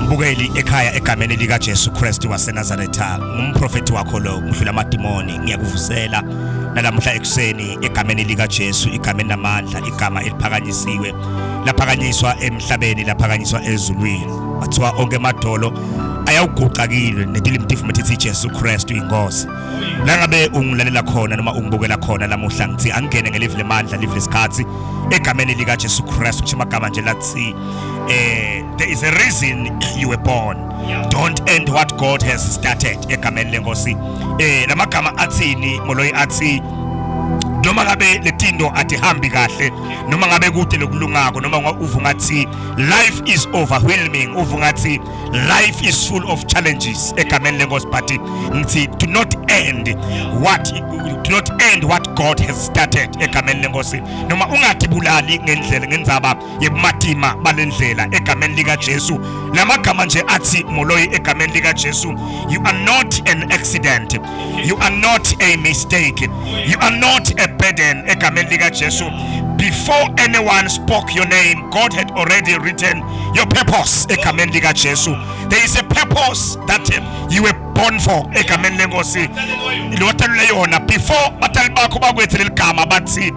Mbukeli ekhaya egameni lika Jesu Kristu waseNazaretha ngumprofeti wakho lo ngidlula amadimoni ngiyakuvusela nalamhla ekuseni egameni lika Jesu igameni namandla igama eliphakanyisiwe laphakanyiswa emhlabeni laphakanyiswa ezulwini bathiwa onke amadolo ayawuguqakile netilimti futhi ithi Jesu Kristu inkosi la ngabe ungilalela khona noma ungibukela khona lamuhla ngithi angene ngelive lemandla live lesikhathi egameni lika Jesu Kristu ngisho amagama nje lathi eh there is a reason you were born don't end what god has started egameni lenkosi eh lamagama athini moloyi athi noma ngabe letinto atihambi kahle noma ngabe kude lokulungako noma uva ngathi life is overwhelming uva ngathi life is full of challenges egameni lenkosi but ngithi do not end what do not end what god has started egameni lenkosi noma ungatibulali ngendlela ngenzaba yebumatima balendlela egameni likaJesu lamagama nje athi moloi egameni likaJesu you are not an accident you are not a mistake you are not a burden egameni likaJesu before anyone spoke your name God had already written your purpose egameni likaJesu there is a purpose that you were born for egameni lenkosi lothalule yona before batali bakho bakwethe leligama bathi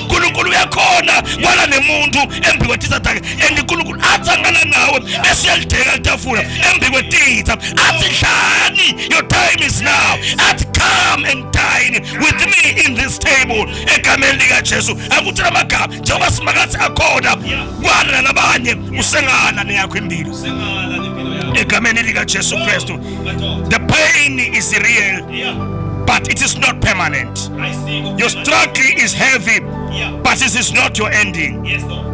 uNkulunkulu uyakhona kwala nemuntu embi kwetitha takhe and uNkulunkulu athi angana nawe bese uyalideka itafula embi kwetitha athi dlani your time is now athi come and dine with me in this table egameni likaJesu akuthi lamagama njengoba simakathi akhona kwala nalabanye usengala neyakho impilo egameni likaJesu Kristu the pain is real but it is not permanent Your struggle is heavy, but this is not your ending.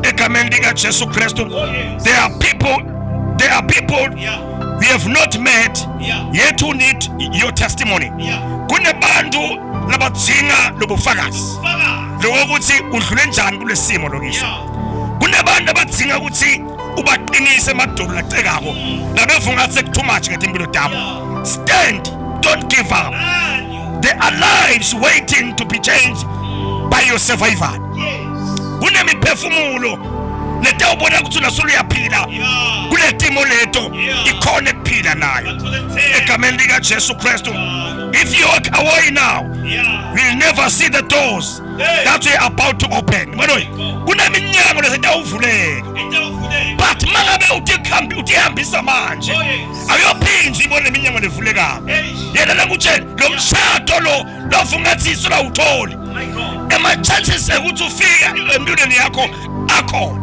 Egameni lika Jesu Kristu. Oh, there are people, there are people we have not met yet who need your testimony. Kunebantu labadzinga lobufakazi. Lokuthi udlule njani kulesimo lokisho. Kunebantu abadzinga ukuthi ubaqinise emadolo lacekako. Nabevunga mm. sekuthumathi ngetimpilo tabo. Stand, don't give up. There are lives waiting to be changed by your survival. Kunemiphefumulo letawubona ukuthi unasolo uyaphila kule timo leto ikhona ekuphila nayo egameni likajesu kristu if you walk away now you'll never see the doors that we're about to open manoyi kuneminyango lezitawuvuleka but mangabe uthi ihambisa manje oh, ayophinzi ibone iminyango levulekako yena nakutshela lo mshado lo lova ungathi isu lawutholi oh ema-chances ekuthi ufika empilweni yakho akhona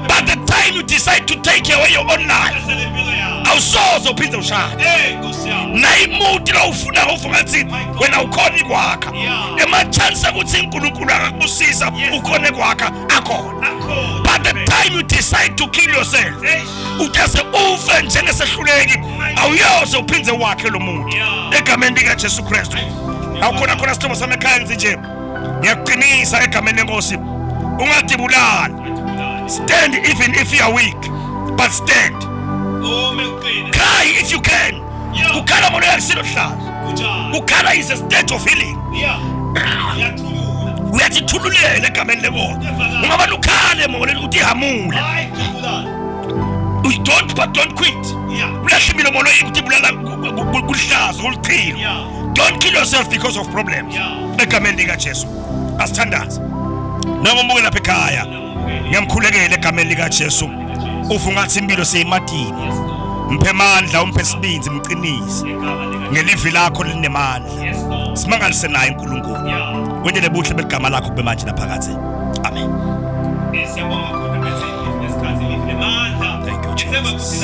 but the time you decide to take away your own life awusoze uphinde ushade nayimuti lowufuna uva ungathi wena ukhona ikwakha ema-chances ekuthi unkulunkulu akakubusiza ukhona ekwakha akhona but the time you decide to kill yourself uthese ufe njengesehluleki awuyoze uphinde wakhe lo muntu egameni likaJesu Kristu awukhona khona sithombo sami ekhaya ngithi nje ngiyakuqinisa egameni lenkosi ungadibulali stand even if you are weak but stand cry if you can kukhala umuntu yakisiluhlaza kukhala is a state of healing uyathi thululela egameni lebona ungaba lukhale moleni ukuthi ihamule don't but don't quit ulashimile mono ukuthi bulala kulihlaza kulichilo don't kill yourself because of problems egameni likajesu asithandaze nangomuke lapha ekhaya ngiyamkhulekela egameni likaJesu ufu ngathi impilo seyimatini mphe amandla umphe sibindi mqinise ngelivi lakho linemandla simangalise naye uNkulunkulu wendele buhle beligama lakho kube manje naphakathi amen Thank you, Jesus.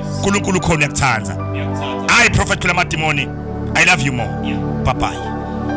uNkulunkulu ukhona uyakuthanda hayi prophet phela amadimoni i love you more bye bye